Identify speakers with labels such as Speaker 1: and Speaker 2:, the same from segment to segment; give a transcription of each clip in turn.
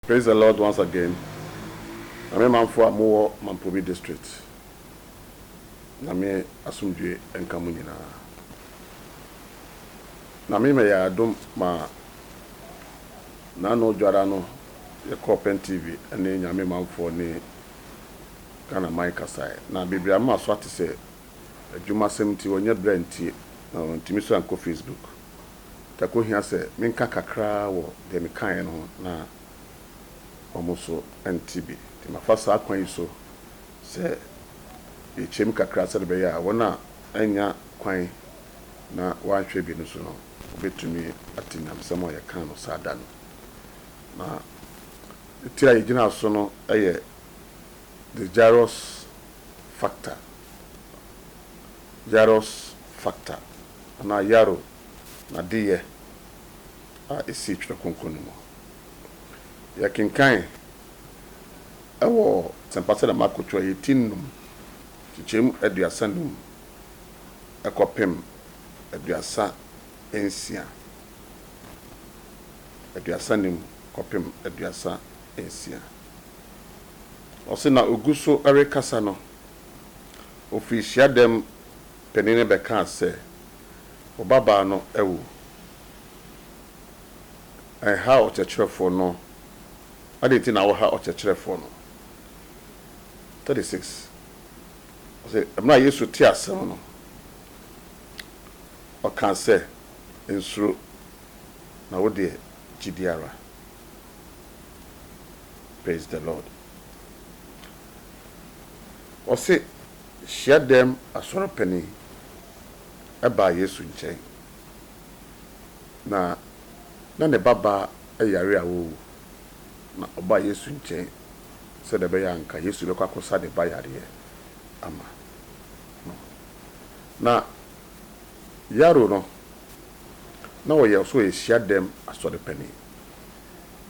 Speaker 1: Praise the Lord once again Nyame manfoɔ a mowɔ Mampobi district Nyame asomdwoe nka mo nyinaa Nyame ma yɛ adom ma Nano dwara no yɛkɔɔ Pen TV ne Nyame manfoɔ ne Ghana man kasaɛ na bebree a maso ate sɛ adwuma sɛm nti wɔnyɛ brɛ nti na wɔntumi so ankɔ Facebook. Da koro hia sɛ menka kakra ara wɔ deɛ mekaeɛ no ho na wɔn nso nte bi. Nti mafa saa kwan yi so sɛ yɛkyɛm kakra sɛdeɛ ɛbɛyɛ a wɔn a annya kwan na wɔanhwɛ bi no nso no wɔbɛtumi ate nyamesɛm a yɛkaa no saa da no. Na ne ti a yɛgyinaa so no yɛ The Jairus Factor. Yaros factor anaa Yarrow n'adeyɛ a esii Twerɛ Kronkron no mu. Yɛkenkan wɔ Asɛmpa sɛdeɛ Marko twerɛ yɛ ti nnum, nkyekyɛmu aduasa nnum kɔpem aduasa nsia, aduasa nnum kɔpem aduasa nsia. Ɔse na ɔgu so rekasa no, Ofii hyiadɛm panin no bɛkaa sɛ, Wo babaa no awu. Ɛnhaa ɔkyerɛkyerɛfoɔ no. Adɛn nti na woha ɔkyerɛkyerɛfoɔ no? 36 ɔse, Mmerɛ a Yesu tee asɛm no, ɔkaa sɛ, Nsuro, na wo deɛ gyidie ara. Praise the Lord. Ɔse hyiadɛm asɔrepani baa Yesu nkyɛn, na na ne babaa yare a wawu, na ɔbaa Yesu nkyɛn sɛdeɛ ɛbɛyɛ a nka Yesu bɛkɔ akɔsa ne ba yareɛ ama no. Na Yairo no, na ɔyɛ ɔso ɔyɛ hyiadɛm asɔrepani,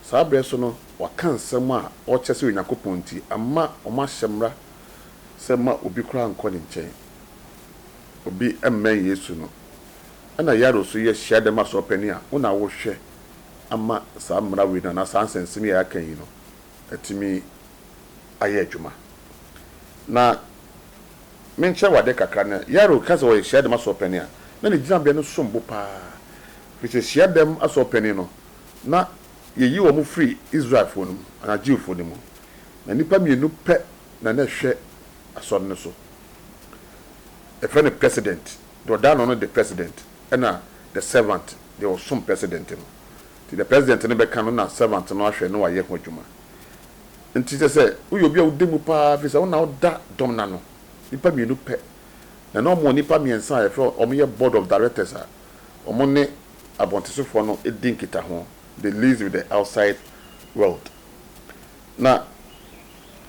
Speaker 1: Saa berɛ so no, wɔaka nsɛm a ɔkyerɛ sɛ Onyankopɔn nti ama wɔahyɛ mmara sɛ mma obi koraa nnkɔ ne nkyɛn. Obi mmɛn Yesu no. Ɛna Yairo nso yɛ hyiadɛm asɔɔpanin a wo na wohwɛ ama saa mmara wei no anaa saa nsɛnsɛm yi a yɛaka yi no atumi ayɛ adwuma. Na menkyerɛ wo adeɛ kakra no, Yairo ka sɛ ɔyɛ hyiadɛm asɔɔpanin a, na ne gyinabea no som bo paa. Ɛfiri sɛ hyiadɛm asɔɔpanin no, na yeyi wɔn firi Israelfoɔ no mu, anaa Jewfoɔ no mu, na nnipa mmienu pɛ na na ɛhwɛ asɔre no so. Yɛfrɛ no president, deɛ ɔda ano no de president, ɛna the servant, deɛ ɔsom president no. Nti deɛ president no bɛka no na servant no ahwɛ na wayɛ ho adwuma. Nti kyerɛ sɛ woyɛ obi a woda mu pa ara, firi sɛ wo na woda dɔm no ano. Nnipa mmienu pɛ, na na wɔwɔ nnipa mmiɛnsa a yɛfrɛ wɔn, wɔyɛ board of directors a, wɔne abɔntesofoɔ no di nkitaho, they liaise with the outside world. Na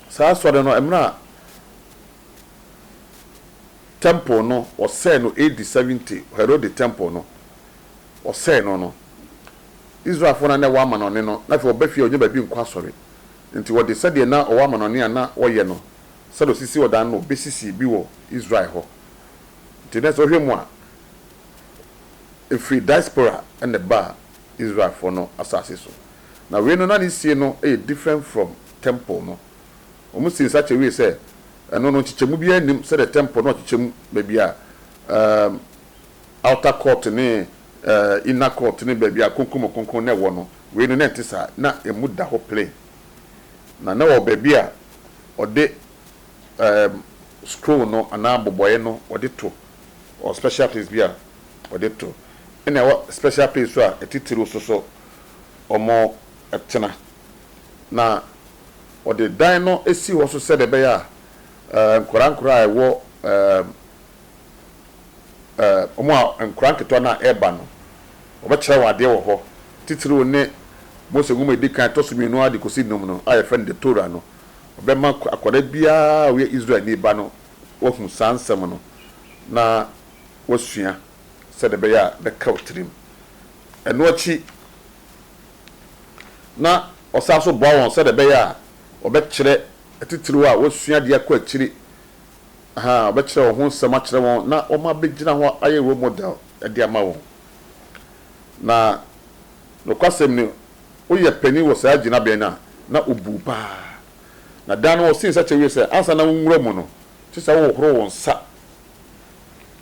Speaker 1: saa asɔre no, mmerɛ a temple no wɔsɛe no AD 70, Herode temple no, wɔsɛe no no, Israelfoɔ no a na ɛwɔ amanɔne no, na afei wɔba fie a wɔnya baabi nkɔ asɔre, nti wɔde sɛdeɛ na wɔwɔ amanɔne a na wɔyɛ no, sɛdeɛ wɔsisi ɔdan no na wɔbɛsisi bi wɔ Israel hɔ. Ntsi nna sɛ ɔhwɛ mu a, efir diaspora na ɛbaa Israelfoɔ no asaase so. Na wei no na ne sie no yɛ different from temple no. Wɔn sii nsa kyɛ wiee sɛ, ɛno no nkyekyɛmu biara nnim sɛdeɛ temple no ɔkyekyɛ mu, baabi a ɛɛm outer court ne ɛɛm inner court ne baabi a kronkron mu kronkron na ɛwɔ no, wei no na ɛnte saa, na ɛmu da hɔ plain. Na na ɔwɔ baabi a ɔde ɛɛm scroll no anaa abobɔeɛ no wɔde to wɔ special place bi a wɔde to ɛna ɛwɔ special place nso a atitiriw nso so wɔtena na wɔde dan no si hɔ nso sɛdeɛ ɛbɛyɛ a ɛɛ nkwadaa nkwadaa a ɛwɔ ɛɛm ɛɛ wɔn a nkwadaa nketewa no a ɛreba no wɔbɛkyerɛ wɔn adeɛ wɔ hɔ titiriw ne Mose Nwoma a ɛdi kan ɛtɔ so mmienu ara de kɔsi nnum no a yɛfrɛ no the Torah no Ɔbɛma akwadaa biara a ɔyɛ Israelni ba no wahu saa nsɛm no na wasua sɛdeɛ ɛbɛyɛ a ɛbɛka wo tirim. Ɛno akyi na ɔsan nso boa wɔn sɛdeɛ ɛbɛyɛ a wɔbɛkyerɛ atitiriw a wɔasua de akɔ akyiri, aha, wɔbɛkyerɛ wɔn ho nsɛm akyerɛ wɔn na wɔabɛgyina hɔ ayɛ role model de ama wɔn. Na nokwasɛm ni, Woyɛ panin wɔ saa gyinabea no a, na obuu paa. Na da no wɔsee nsa kyɛ wiei sɛ, Ansa na wonwura mu no, ɛsɛ sɛ wohohoro wo nsa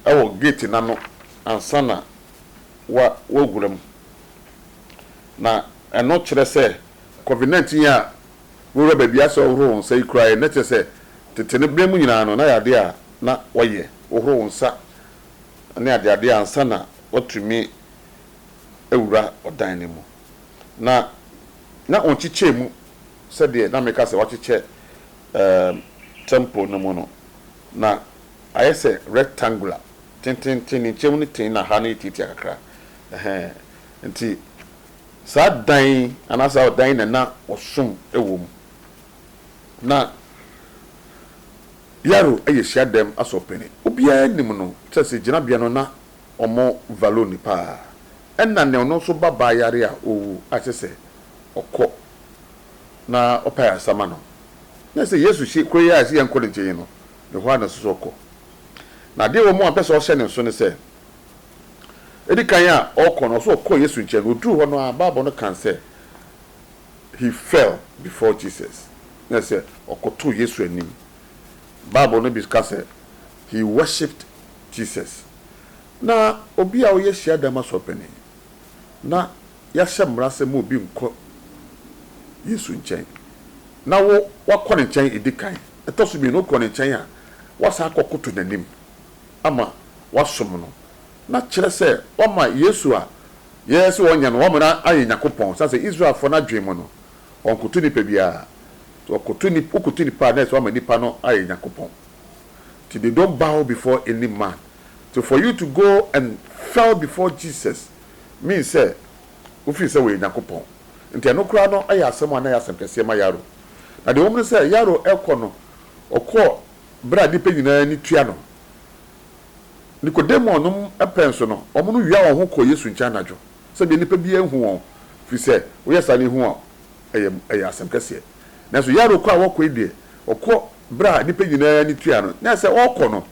Speaker 1: wɔ gate no ano ansa na woawura mu. Na ɛno kyerɛ sɛ Covid nineteen yi a wowura baabi a ɛsɛ sɛ wohohoro wo nsa yi koraa yɛ, na kyerɛ sɛ tete no berɛ mu nyinaa no, na ɛyɛ adeɛ a na wɔyɛ, wohoro wo nsa ne adeade ansa na woatumi awura ɔdan no mu. na na ɔnkyekyɛɛ mu sɛdeɛ na meka sɛ wɔakyekyɛ ɛɛm tɛmpol no mu no, na ayɛ sɛ rectangular, tententen, ne nkyɛnmu no ten na ha no yɛ tiatia kakra, ɛhɛɛ, nti saa dan yi anaa saa ɔdan yi na na wɔsom wɔ mu. Na Yaro yɛ hyiadɛm asɔrpanin, obiara nim no, kyerɛ sɛ gyinabea no na. Ɔmo value no paa. Ɛna nea ɔno nso ba baa yare a owu a kyerɛ sɛ ɔkɔ na ɔpɛ ayarsa ma no. Na sɛ Yesu hye kuro yi a ɛsɛ yɛnkɔ ne nkyen yi no ne hɔ a na ɛsɛ sɛ ɔkɔ. Na adeɛ wɔ mu a mpɛ sɛ ɔhyɛ ne nso ne sɛ edi kan a ɔkɔ no ɔsɛ ɔkɔ Yesu nkyɛn na oduru hɔ no ara bible no kan sɛ he fell before Jesus na ɛsɛ ɔkɔtoo Yesu anim. Bible no bi ka sɛ He worshipped Jesus. Na obi a ɔyɛ hyiadan asɔre panin, na yɛahyɛ mmara sɛ ma obi nkɔ Yesu nkyɛn, na wo woakɔ ne nkyɛn edi kan. Ɛtɔ so mmienu, wokɔ ne nkyɛn a, woasan akɔkoto n'anim ama woasom no. Na kyerɛ sɛ, woama Yesu a yɛyɛ sɛ ɔnyɛ no, woama no ayɛ Nyankopɔn. Esiane sɛ Israelfoɔ no adwene mu no, wɔnkoto nnipa biara. Sɛ wɔkoto nni, wokoto nnipa a, na ɛyɛ sɛ woama nnipa no ayɛ Nyankopɔn. till they don't bow before any man till for you to go and fell before Jesus means sɛ wo feel sɛ wɔyɛ Nyankopɔn nti ɛno koraa no yɛ asɛm a na ɛyɛ asɛm kɛseɛ ma Yaro na deɛ wɔm no sɛ Yaro ɛkɔ no ɔkɔɔ berɛ a nipa nyinaa ani tua no Nikodemo nom pɛ nso no wɔn no wia wɔn ho kɔɔ Yesu nkyɛn anadwo sɛ bia nipa biara nhu wɔn firi sɛ woyɛ saa na ɛhu a ɛyɛ ɛyɛ asɛm kɛseɛ nanso Yaro kɔ a wɔkɔ yi deɛ ɔkɔ Berɛ a nnipa nyinaa ani tua no, na sɛ ɔrekɔ no,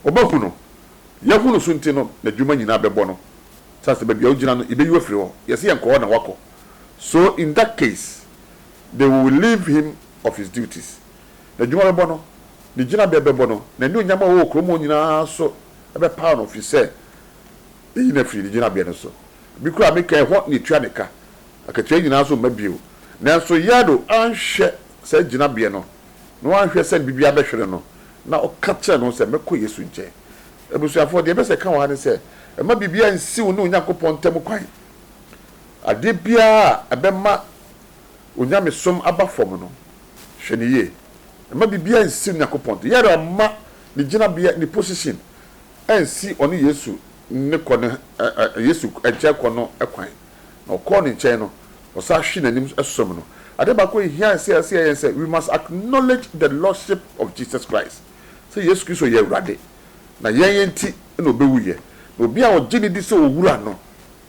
Speaker 1: wɔbɛhu no. Yɛahu no so nti no, n'adwuma nyinaa bɛbɔ no. Saa sɛ baabi a ɔgyina no, yɛbɛyi wo afiri hɔ. Yɛse yɛnkɔ hɔ na woakɔ. So in that case, they will relieve him of his duties. N'adwuma bɛbɔ no, ne gyinabea bɛbɔ no, n'anuonyam a ɔwɔ wɔ kurom hɔ nyinaa nso bɛpaw no firi sɛ yɛayi no afiri ne gyinabea no so. Bi koraa a meka yi, ɛhɔ na yɛtua ne ka. Akatua yi nyinaa nso mma bio. Nanso Yado anhwɛ saa gyinabea no, na wanhwɛ sɛ biribi abɛhwere no, na ɔka kyerɛɛ ne ho sɛ, Mɛkɔ Yesu nkyɛn. Abusuafo, deɛ ɛpɛ sɛ ɛka wɔ ha ne sɛ, mma biribiara nnsi wo ne Onyankopɔn ntam kwan. Adeɛ biara a ɛbɛma wo nyamesom aba fam no, hwɛ no yie. Mma biribiara nnsi Onyankopɔn ntam. Yɛrɛ mma ne gyinabea, ne position, nnsi ɔne Yesu ne kɔ no, Yesu nkyɛn kɔ no kwan. na ɔkɔɔ ne nkyɛn no, ɔsan hwee n'anim som no. Ade baako a ehia sɛ yɛyɛ ne sɛ, we must acknowledge the lordship of Jesus Christ, sɛ Yesu Kristo yɛ Awurade, na yɛn nti na obewuiɛ. Na obi a ɔgye no di sɛ Owura no,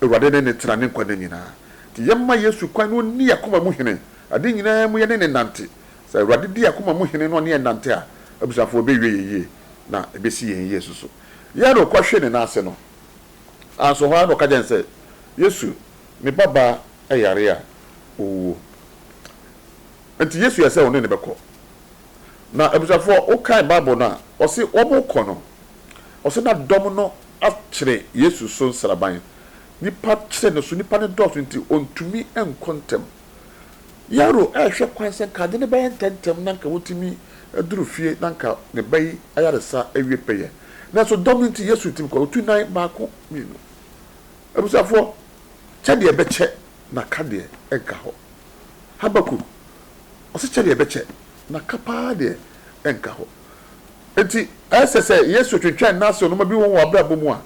Speaker 1: Awurade ne no tena ne nkwa nna nyinaa. Enti yɛmma Yesu kwan na onni yɛn akoma mu hene. Ade nyinaa mu yɛne no nnante. Sɛ Awurade di yɛn akoma mu hene na ɔne yɛn nante a, abusuafo, ebewie yɛn yie, na ebesi yɛn yie nso so. Yɛn a na ɔkɔhwee ne nan ase no. Naaso hɔ ara na ɔka kyerɛɛ no sɛ, Yesu, me babaa yare a, owuo. Ntsi Yesu yɛɛ sɛ ɔne no bɛkɔ. Na ebusuafo, wokae Bible no a, ɔse wɔrokɔ no, ɔse na dɔm no akyere Yesu so nseraban. Nyimpa kyere no so, nyimpa no dɔɔ so ntsi onntumi nnkɔ ntsɛm. Yairo rehwɛ kwan sɛ nka adze no bɛyɛ ntsɛntsɛm na nka otumi dur fie na nka ne ba yi ayarsa ewie pɛyɛ. Nanso dɔm no nti Yesu tim kɔe, otuu nan baako, mmienu. Abusuafoɔ, kyɛ deɛ ɛbɛkyɛ na ka deɛ ɛnka hɔ. Habakuk, ɔse kyɛ deɛ ɛbɛkyɛ na ka paa deɛ ɛnka hɔ. Enti ɛsɛ sɛ Yesu twentwɛn n'ase ɔnoma bi wɔ w'abrabɔ mu a,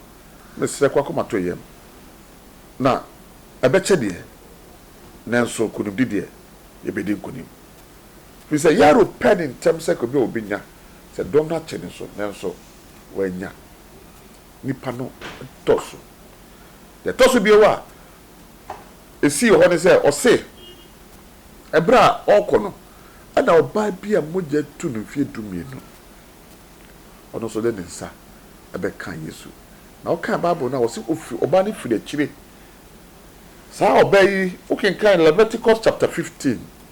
Speaker 1: mesrɛ kɔ akomatɔyam. Na ɛbɛkyɛ deɛ, nanso nkonimdi deɛ, yɛbɛdi nkonim. Ɛfiri sɛ Yairo pɛɛ no ntɛm sɛ ɛkɔ bi a ɔbɛnya, sɛ dɔm no akyɛ no nso, nanso wannya. Nnipa no dɔ so. Deɛ ɛtɔ so bio a ɛsii wɔ hɔ ne sɛ, ɔse ɛberɛ a ɔrekɔ no, ɛna ɔbaa bi a mogya atu no mfeɛ dumienu, ɔno nso de ne nsa bɛkaa Yesu. Na wokan Bible no a, wɔse ɔfiri, ɔbaa no firi akyire. Saa ɔbaa yi, wokenkan Leviticus chapter fifteen.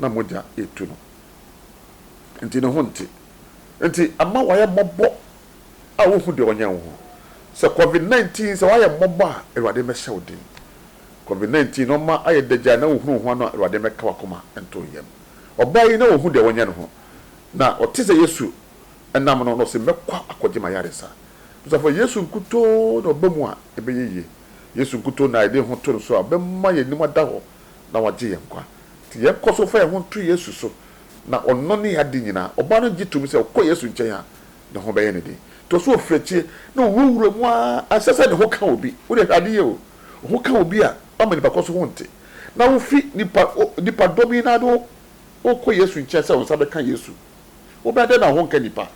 Speaker 1: na mogya retu no nti ne ho nte. Nti ama wayɛ mmɔbɔ a wohu deɛ ɔnyɛ wo ho. Sɛ covid 19 sɛ wayɛ mmɔbɔ a Awurade mmɛhyɛ wo den. Covid 19 nnoɔma ayɛ dɛ gyae na wohunu wo ho ano a Awurade mmɛka wakoma nto yam. Ɔbaa yi na ɔhu deɛ ɔnyɛ ne ho na ɔte sɛ Yesu nam no na ɔse mɛkɔ akɔgye m'ayaresa. Abusuafoɔ Yesu nkutoo na ɔba mu a ɛbɛyɛ yie. Yesu nkutoo na yɛde yɛn ho to no so a ɔbɛma yɛn anim ada hɔ. na wagye yɛn nkwa. Nti yɛnkɔ so mfa yɛn ho nto Yesu so, na ɔno ne yɛn ade nyinaa. Ɔbaa no gye toom sɛ ɔkɔ Yesu nkyɛn a, ne ho bɛyɛ no den. Ɛtɔ so ɔfiri akyire na ɔwurawura mu ara. Ɛnsɛ sɛ ne ho ka obi. Wo deɛ hwɛ ade yie o! Wo ho ka obi a, woama nipa korɔ nso ho nte, na wofi nipa, nipa dɔm yi no ara de wo wokɔ Yesu nkyɛn sɛ wo nsa bɛka Yesu. Wobɛyɛ dɛn na wo ho nka nipa?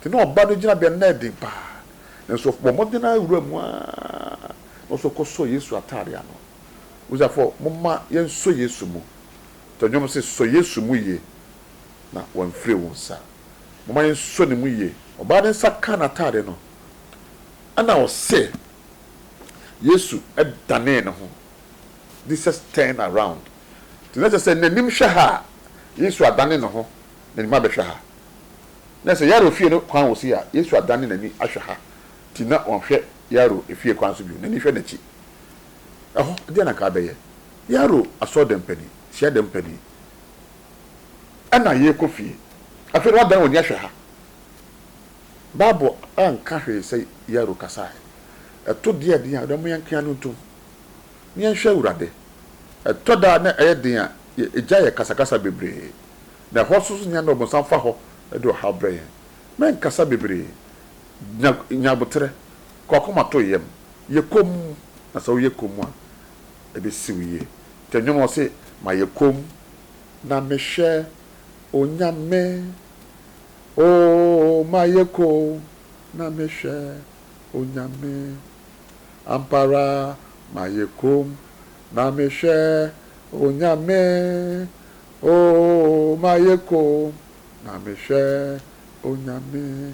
Speaker 1: Nti na ɔbaa no gyinabea no, na ɛyɛ den pa ara. Nanso ɔbɔ mmɔden ara wura mu ara, na ɔsɔ kɔsɔ Yesu ataade ano. Abusuafo, momma yɛnsɔ Yesu mu. Tɔ nnwom se, Sɔ Yesu mu ye, na wamfire wo nsa. Momma yɛnsɔ ne mu ye. Ɔbaa ne nsa kaa n'atade no, ɛnna ɔse, Yesu danee ne ho, Jesus turned around. Nti na ɛsɛ sɛ n'anim hwɛ ha a Yesu adane ne ho, n'anim abɛhwɛ ha. Na sɛ Yairo fie no kwan wɔ sei a, Yesu adane n'ani ahwɛ ha. Nti na ɔnhwɛ Yairo fie kwan so bio, n'ani hwɛ n'akyi. Ɛhɔ, deɛn na anka wobɛyɛ? Yɛaro asɔrdan panin, hyiadan panin, ɛna yɛrekɔ fie. Afei deɛ woadan w'ani ahwɛ ha. Bible anka hwee sɛ Yɛaro kasaeɛ. Ɛto deɛ ɛden a, momma yɛnka yɛn ano ntom, na yɛnhwɛ Awurade. Ɛtɔ da a na ɛyɛ den a, yɛgyae yɛn kasakasa bebree. Na ɛhɔ nso nyɛ a na ɔbonsam fa hɔ de ɔhaw brɛ yɛn. Mɛnkasa bebree. Nya nya aboterɛ. Kɔ akoma to yam, yɛ komm, na sɛ woyɛ komm a, ɛbɛsi wo yie. Nti nnwom no ɔse, Mayɛ komm na mehwɛ Onyame oh, mayɛ komm na mehwɛ Onyame, ampa ara mayɛ komm na mehwɛ Onyame oh, mayɛ komm na mehwɛ Onyame,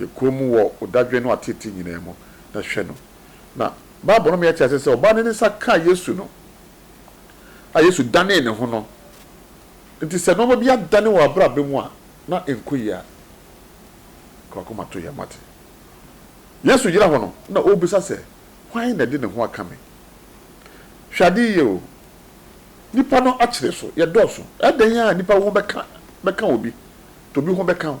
Speaker 1: Yɛ komm wɔ wo dadwen ne w'ateetee nyinaa mu, na hwɛ no. Na Bible no ma yɛte ase sɛ ɔbaa no de ne nsa kaa Yesu no, a Yesu danee ne ho no. Enti sɛ nneɛma bi adane wɔ w'abrabɔ mu a na ɛnkɔ yie a, ka w'akoma to yɛn ma te. Yesu gyina hɔ no, na ɔrebisa sɛ, Hwan na ɛde ne ho aka me? Hwɛ ade yie o, nnipa no akyere so, yɛdɔɔso. Ɛyɛ dɛn ara a nnipa ho bɛka bɛka obi, nti obi ho bɛka wo.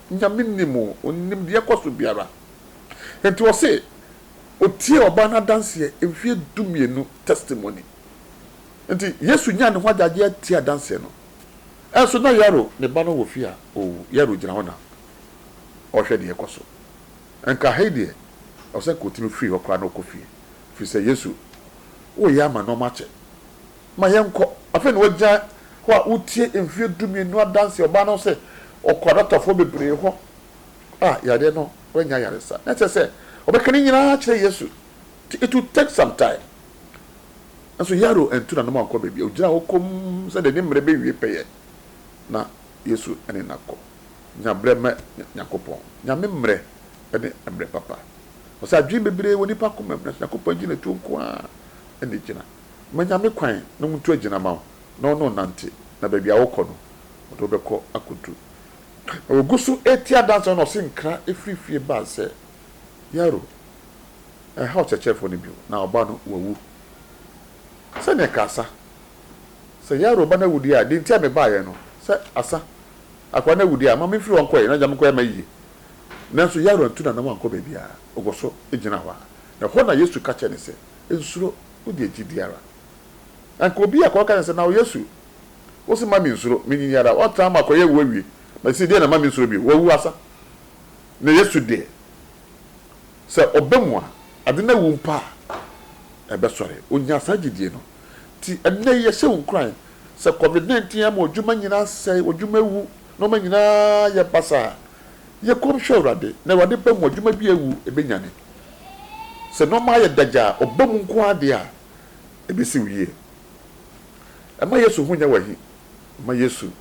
Speaker 1: Nyame nnim o, Onim deɛ ɛkɔ so biara. Enti ɔse otiee ɔbaa no adanseɛ, mfeɛ dumienu testimony. Enti Yesu nyaa ne ho agyagyeɛ tiee adanseɛ no. Ɛnso na Yairo ne ba no wɔ fie a owu. Yairo gyina hɔ na ɔrehwɛ deɛ ɛkɔ so. Nka ha yi deɛ, ɛwɔ sɛ nka otumi firi hɔ koraa na ɔkɔ fie. Ɛfiri sɛ Yesu, woyɛ ama nnoɔma akyɛ. Ma yɛnkɔ. Afei na wagyina hɔ a ɔretie mfeɛ dumienu adanseɛ. Ɔbaa no sɛ ɔkɔɔ adɔktafoɔ bebree hɔ a yareɛ no wannya ayaresa. Na ɛsɛ sɛ ɔbɛka ne nyinaa kyerɛ Yesu. Nti it will take some time. Nanso Yairo antu n'anom ankɔ baabiara. Ɔgyinaa hɔ komm sɛdeɛ ne mmerɛ bɛwie pɛyɛ na Yesu ne no akɔ. Nya berɛ ma Nyankopɔn. Nyame mmerɛ ne mmerɛ papa. Ɔsɛ adwene bebree wɔ nnipa komam, nanso Nyankopɔn agyinatuo nko ara na ɛgyina. Manya me kwan na mutu agyina ma wo na wo ne wo nnante, na baabi a wokɔ no, wɔde wo bɛkɔ akodu. Na wogu so reti adanse no na ɔse nkra firi fie bae sɛ, Yairo, ɛnhaw Kyerɛkyerɛfoɔ no bio, na ɔba no, wawu. Sɛnea ɛka asa sɛ, Yairo, ɔba no awu deɛ a, deɛ nti a mebaeɛ no, sɛ asa akoa no awu deɛ a, ma memfiri hɔ nkɔeɛ na gya me kwan ma yie. Nanso Yairo antu n'anan ankɔ baabiara, ɔkɔ so gyina hɔ ara. Na ɛhɔ na Yesu ka kyerɛɛ no sɛ, Nsuro, wode gyidi ara. Na nka obi a ka ɔka kyerɛ sɛ, Nao Yesu, wo se ma me nsuro, menyin yi ara, wɔtaa ma kɔyɛ awu awie, na sesei deɛ na ma me nsuro bio, wawu asa. Na Yesu deɛ, sɛ ɔba mu a, ade no awu mpo a, ɛbɛsɔre. Ɔnyaa saa gyidie no. Nti ɛnnɛ yi yɛhyɛ wo nkuran, sɛ Covid 19 ama w'adwuma nyinaa asɛe, w'adwuma awu, nnoɔma nyinaa ayɛ basaa a, Yɛ komm hwɛ Awurade, na Awurade ba mu, adwuma bi a awu, ɛbɛnyane. Sɛ nnoɔma ayɛ dagya a, ɔba mu nko ara deɛ a, ɛbɛsi wo yie. Mma Yesu ho nyɛ wo ahi. Mma Yesu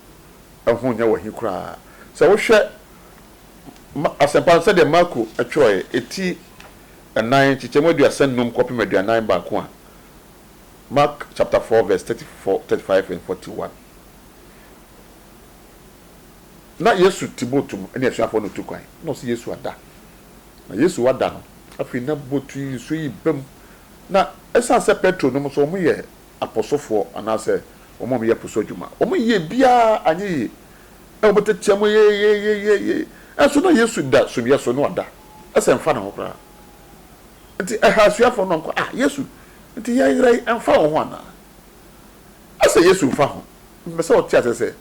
Speaker 1: ho nyɛ wo ahi koraa. Sɛ wohwɛ Ma, Asɛmpa no sɛdeɛ Marko twerɛeɛ, ɛti nnan, nkyekyɛmu aduasa nnum kɔpem aduanan baako a, Mark chapter four verse thirty four, thirty five and forty one. Na Yesu te boat mu ne asuafoɔ no retu kwan, na ɔse Yesu ada. Na Yesu ada no, afei na boat yi nsuo yi ba mu. Na ɛsiane sɛ Petro nom nso, wɔn yɛ apɔsofoɔ anaasɛ wɔn a wɔyɛ po so adwuma, wɔn yie biara anyɛ yie, na wɔn tetea mu yeyeyeyeye, nanso na Yesu da sumiiɛ so, na wada, ɛsɛ ɛmfa ne ho koraa. Nti ɛhaa asuafoɔ no, wɔka, ah Yesu, nti yɛn werɛ ɛmfa wo ho anaa? Ɛsɛ Yesu mfa ho, mpɛ sɛ ɔte aseɛ sɛ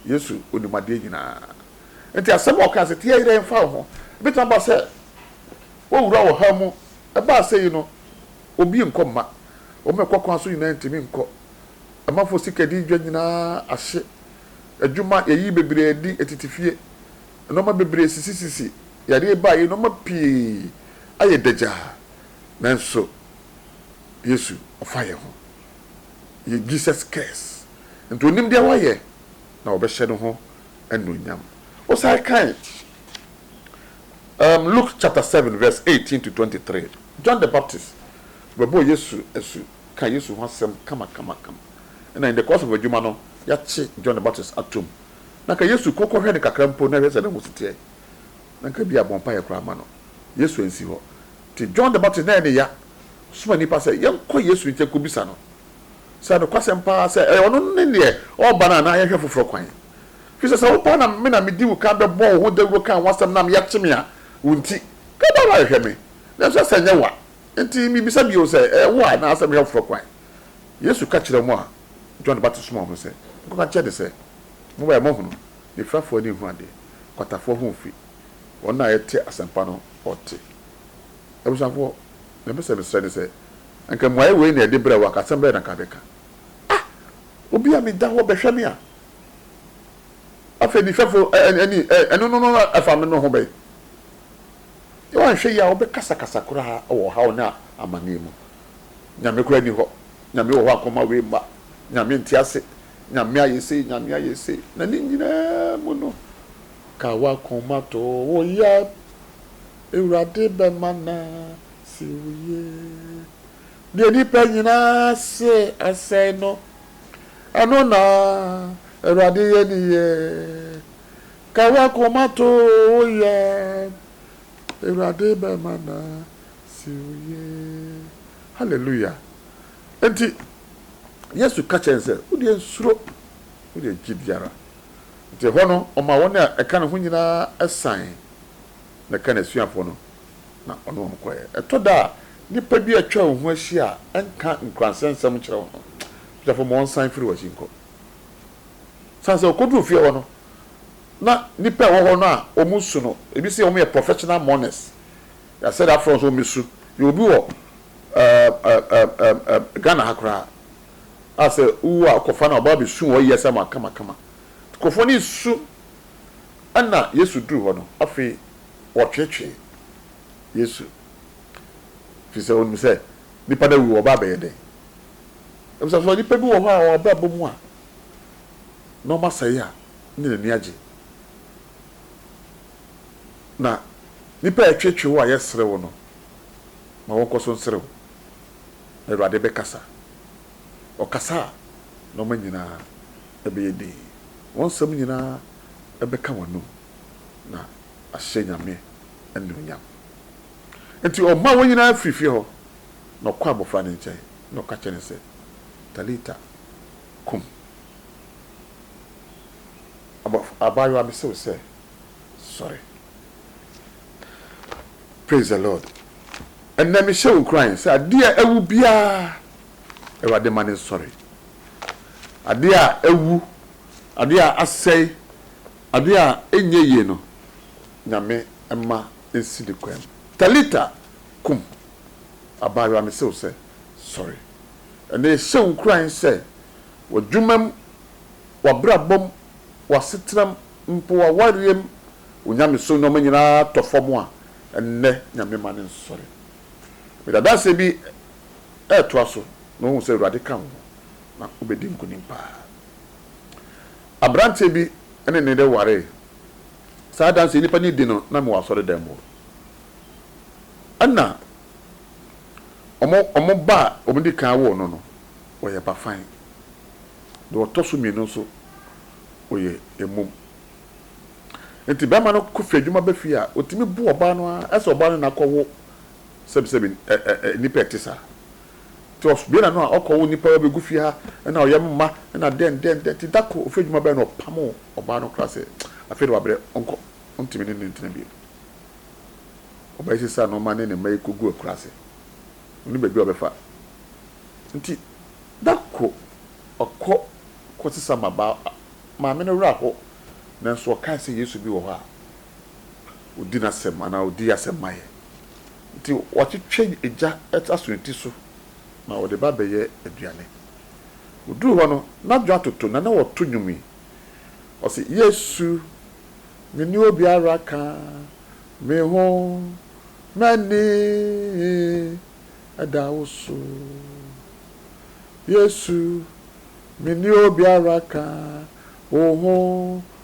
Speaker 1: Yesu onim adeɛ nyinaa. Nti asɛm a ɔkaa sɛ tia yere mfa wo ho, ɛbɛtumi aba sɛ woawura ɔhaw mu. Ɛbaa sɛ yi no, obi nkɔ mma. Wɔn a ɛkɔ kwan so nyinaa ntumi nkɔ. Amanfoɔ sikadi dwa nyinaa ahye. Adwuma, yɛayi bebree adi tete fie. Nnoɔma bebree sisisisi. Yareɛ baa yi, nnoɔma pii ayɛ dagyaa. Nanso Yesu ɔfa yɛn ho. Yɛ Jesus cares. Enti onim deɛ wayɛ na wɔbɛhyɛ ne ho anuonyam. Wosan kan um, Luke chapter seven verse eighteen to twenty three, John the Baptist bɛbɔɔ Yesu asu kaa Yesu ho asɛm kamakamakama. Ɛna in the course of adwuma no, yɛakye John the Baptist atom. Na anka Yesu kɔ kɔhwɛ no kakra mpo na hwɛ sɛ ne ho si teɛ. Na anka bi a bɔ mpaeɛ koraa ma no. Yesu ansi hɔ. Nti John the Baptist na ɛyɛ ne ya soma nnipa sɛ yɛnkɔ Yesu nkyɛn kɔbisa no. sɛ nokwasɛm paa sɛ ɛyɛ ɔno ne deɛ ɔreba no anaa yɛnhwɛ foforɔ kwan. Ɛfiri sɛ sɛ wo paa na me na medi wo kan bɛbɔɔ wo ho dawuro kaa wo asɛm nam yɛakye me a, wo nti, ka baa bɛhwehwɛ me. Nanso ɛsɛ sɛ ɛnyɛ wo a, enti mebisa bio sɛ ɛyɛ wo a anaa sɛ mehwɛ foforɔ kwan? Yesu ka kyerɛɛ wɔn a John Baptist somaa wɔn no sɛ, Monkɔka nkyerɛ no sɛ, 'Mo a moahunu nifirafoɔ ani nhunu adeɛ, kwatafoɔ ho mfi, wɔn a yɛte asɛmpa no ɔte. Abusuafoɔ, deɛ mepɛ sɛ mesrɛ ne sɛ, Anka mmuae wei na yɛde brɛ wo, anka asɛm bɛn na anka wobɛka? Ah! Obi a meda hɔ bɛhwɛ me a, afei ne mfɛfo ani ɛno no no ɛfa me no ho bɛn? Woanhwɛ yie a wobɛkasakasa koraa wɔ ɔhaw ne amanneɛ mu. Nyame koraa nni hɔ, Nyame wɔ hɔ a anka ɔma wei mma, Nyame nte ase, Nyame ayɛ sei, Nyame ayɛ sei, na ne nyinaa mu no, ka w'akoma to wo yam, Awurade bɛmana. Sɛ woyɛ deɛ nnipa nyinaa se asɛe no, ɛno na Awurade yɛ ne yɛ. Ka w'akoma to wo yam, Awurade bɛma no asi wo yie. Hallelujah! Enti Yesu ka kyerɛɛ no sɛ, Wo deɛ nsuro, wo deɛ gye di ara. Enti ɛhɔ no, ɔmaa wɔn a ɛka ne ho nyinaa san, na ɛka n'asuafoɔ no. na ɔne wɔn kɔe. Ɛtɔ da a, nnipa bi a atwa wo ho ahyia a ɛnka nkuranhyɛ nsɛm nkyerɛ wo no, Sodifo ma wɔnsan mfiri w'akyi nkɔ. Esiane sɛ wokoduu fie hɔ no, na nnipa a wɔwɔ hɔ no a wɔsu no, ebi se wɔyɛ professional mourners. Yɛasɛ de afrɛ wɔn sɛ wɔmmesu. Yɛwɔ obi wɔ Ghana ha koraa a sɛ wowu a, wɔkɔfa no a ɔba besu hɔ yiye sɛ makamakama. Nkurɔfo ani resu. Ɛnna Yesu duu hɔ no, afei wɔtweetwee Yesu, ɛfiri sɛ wɔnim sɛ nnipa no awu, wɔba abɛyɛ dɛn? Ɛfiri sɛ sɛ nnipa bi wɔ hɔ a wɔn abrabɔ mu a nneɛma sɛe a ne n'ani agye, na nnipa a ɛtweetwee wo a yɛsere wo no, ma wɔnkɔ so nsere wo, na Awurade bɛkasa. Ɔkasa a, nneɛma nyinaa bɛyɛ dinn, wɔn nsɛm nyinaa bɛka wɔn anom. na ahyɛ Nyame anuonyam. Enti ɔmaa wɔn nyinaa firii fie hɔ, na ɔkɔɔ abɔfra no nkyɛn, na ɔka kyerɛɛ no sɛ, Talita kum. Abaayewa, mese wo sɛ, sɔre. Praise the Lord. Ɛnnɛ mehyɛ wo nkuran sɛ adeɛ a awu biara, Awurade ma no nsɔre. Adeɛ a awu, adeɛ a asɛe, Ade a ɛnyɛ yie no, Nyame mma ɛnsi ne kwan mu. Talita kum, Abaayewa mese wo sɛ, sɔre. Ɛnnɛ yɛhyɛ wo nkuran sɛ, w'adwumam, w'abrabɔm, w'asetenam, mpo w'awareɛm, wo nyamesom nnoɔma nyinaa tɔ fam a, ɛnnɛ Nyame mma no nsɔre. Mede adanseɛ bi ɛɛtoa so na woahu sɛ Awurade ka wo ho na wobɛdi nkunim paa. Aberanteɛ bi ne ne yere waree. Saa adanseɛ nipa no di no na mewɔ asɔredan mu hɔ. Ɛna wɔn wɔn ba a wɔdi kan woo no no, ɔyɛ bafan. Deɛ ɔtɔ so mmienu nso, ɔyɛ mmum. Nti barima no kɔ firi adwuma ba fie a, ɔtumi bu ɔbaa no ara sɛ ɔbaa no na akɔwo sɛbisɛbi ɛ ɛ ɛ nnipa a ɛte saa. Tof, Bena no a ɔkɔwo nnipa ba begu fie ha na ɔyɛ mo mma na dɛn dɛn dɛn nti da koro ofie adwuma bɛɛ na ɔpamoo ɔbaa no koraa sɛ afei de wabrɛ ɔnkɔ ontumi ne no ntena bio. Ɔbaa yi sesaa nnoɔma ne ne mma yi kɔguu akuraase. Onni baabi a ɔbɛfa nti da koro ɔkɔ kɔsesa ma baa maame no werɛ aho nanso ɔkae sɛ Yesu bi wɔ hɔ a ɔdi n'asɛm anaa ɔdi asɛm ma yɛn. Nti wɔatwetwe egya aso ne ti so na ɔde ba bɛyɛ aduane. Ɔduruu hɔ no, n'adwo atoto na na wɔto nnwom yi, ɔse, Yesu, menni obiara ka me ho, m'ani da wo so. Yesu, menni obiara ka wo ho.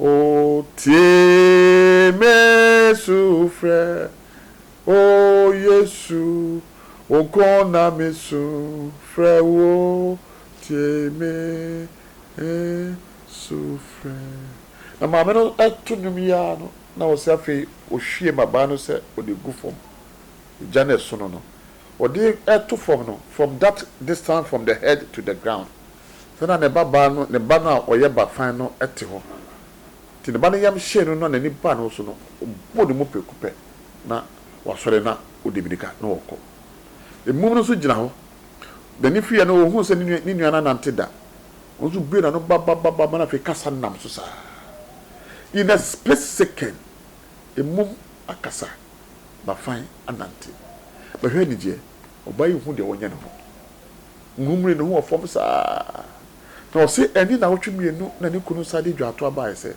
Speaker 1: O tie me sufrɛ, O Yesu, Wo nko na me su frɛ wo, tie me sufrɛ. Na maame no to nnwom yi ara no, na ɔsɛ afei ɔhwie mmabaa no sɛ ɔde gu fam, gya no ɛsono no, ɔde to fam no, from that distance from the head to the ground, Sɛ na ne babaa no, ne ba no a ɔyɛ ba fann no te hɔ. Enti ne ba no yam hyee no na n'ani baa ne ho so no, ɔbɔɔ ne mu prɛko pɛ na wasɔre na ɔde mmirika na ɔrekɔ. Mmum no nso gyina hɔ. N'ani fiiɛ no, ɔhuu sɛ ne nua no annante da. Ɔno nso buee n'ano babababa na afei kasa nam so saa. In a split second, mmum akasa, ba fann anante. Bɛhwɛ anigyeɛ! Ɔbaa yi nhuu deɛ ɔnyɛ ne ho. Murmuri ne ho wɔ fam saa ara. Na ɔse ɛnde nnawɔtwe mmienu na ne kunu san de dwaato baeɛ sɛ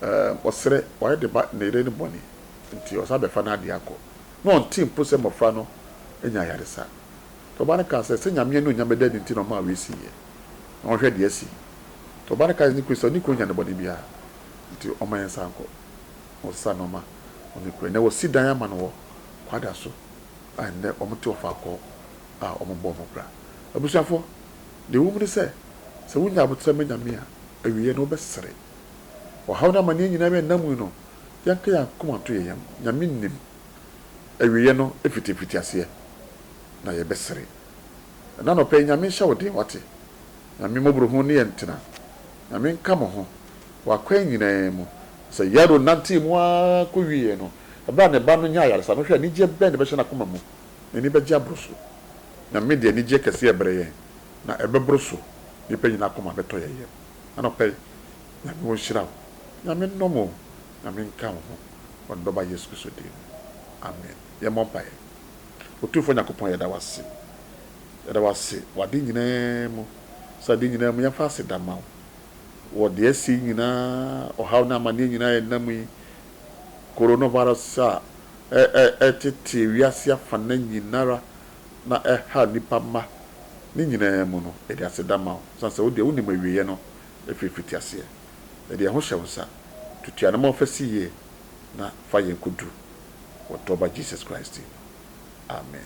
Speaker 1: ɛɛm ɔsrɛ, wayɛ ne ba ne yere no bɔne nti ɔsan bɛfa n'adeɛ akɔ. Na ɔntee mpo sɛ mmɔfra no anya ayaresa. Na ɔbaa no kaa sɛ, sɛ Nyame anuonyam bɛda adi nti na ɔmaa wei siiɛ. Na ɔnhwɛ deɛ asi. Na ɔbaa no kaa kyerɛɛ ne kunu sɛ ɔne kunu nyɛ no bɔne biara nti ɔmma yɛnsan nkɔ. Na wɔsesaa nnoɔma na wɔkɔɛ. Nnɛ wɔsi dan ama no wɔ Kwada so a nnɛ wɔte ɔfaa kɔɔ a wɔbɔɔ mo bra. Abusuafo, nea ɛwom ne sɛ, sɛ wunya abotare ma Nyame a, awiei no wobɛsere. Ɔhaw ne amanneɛ nyinaa a yɛnam mu yi no, yɛnka yɛn akoma nto yɛn yam. Nyame nim. Awieeɛ no, ɛfiti mfitiaseɛ na yɛbɛsere. Ɛnnɛ anɔpa yi, Nyame nhyɛ wo den, wate? Nyame mmɔborɔhunu ne yɛn ntena. Nyame nka mo ho, wɔ akwan nyinaa mu. Sɛ Yairo nantee mu ara kɔwieeɛ no, ɛberɛ a ne ba no nyaa ayaresa no, hwɛ anigyeɛ bɛn na ɛbɛhyɛ n'akoma mu! n'ani bɛgye aboro so. Nyame de anigyeɛ kɛseɛ rebrɛ yɛn, na ɛbɛboro so, nnipa nyinaa akoma bɛtɔ yɛn yam. Anɔpa yi, Nyame ɔnhyira wo. Nyame nnɔ mo o. Nyame nka wo ho wɔ Ne Dɔba Yesu Kristo din mu. Amen. Yɛmmɔ mpaeɛ. Otumfoɔ Nyankopɔn yɛda wo ase. Yɛda wo ase wɔ ade nyinaa mu. Sɛ ade nyinaa mu, yɛmfa aseda ma wo wɔ deɛ asi yi nyinaa, ɔhaw ne amaneɛ nyinaa a yɛnam yi, Coronavirus a ɛtetee wiase afana nyinara na ɛhaa nnipa mma ne nyinaa mu no, yɛde aseda ma wo, esiane sɛ wo deɛ wonim awieɛ no firi mfitiaseɛ. Yɛde yɛn ho hyɛ wo nsa. Tutu anamɔn mfa si yie na fa yɛn kɔduru wɔ dɔ Ba Jesus Christ din mu. Amen.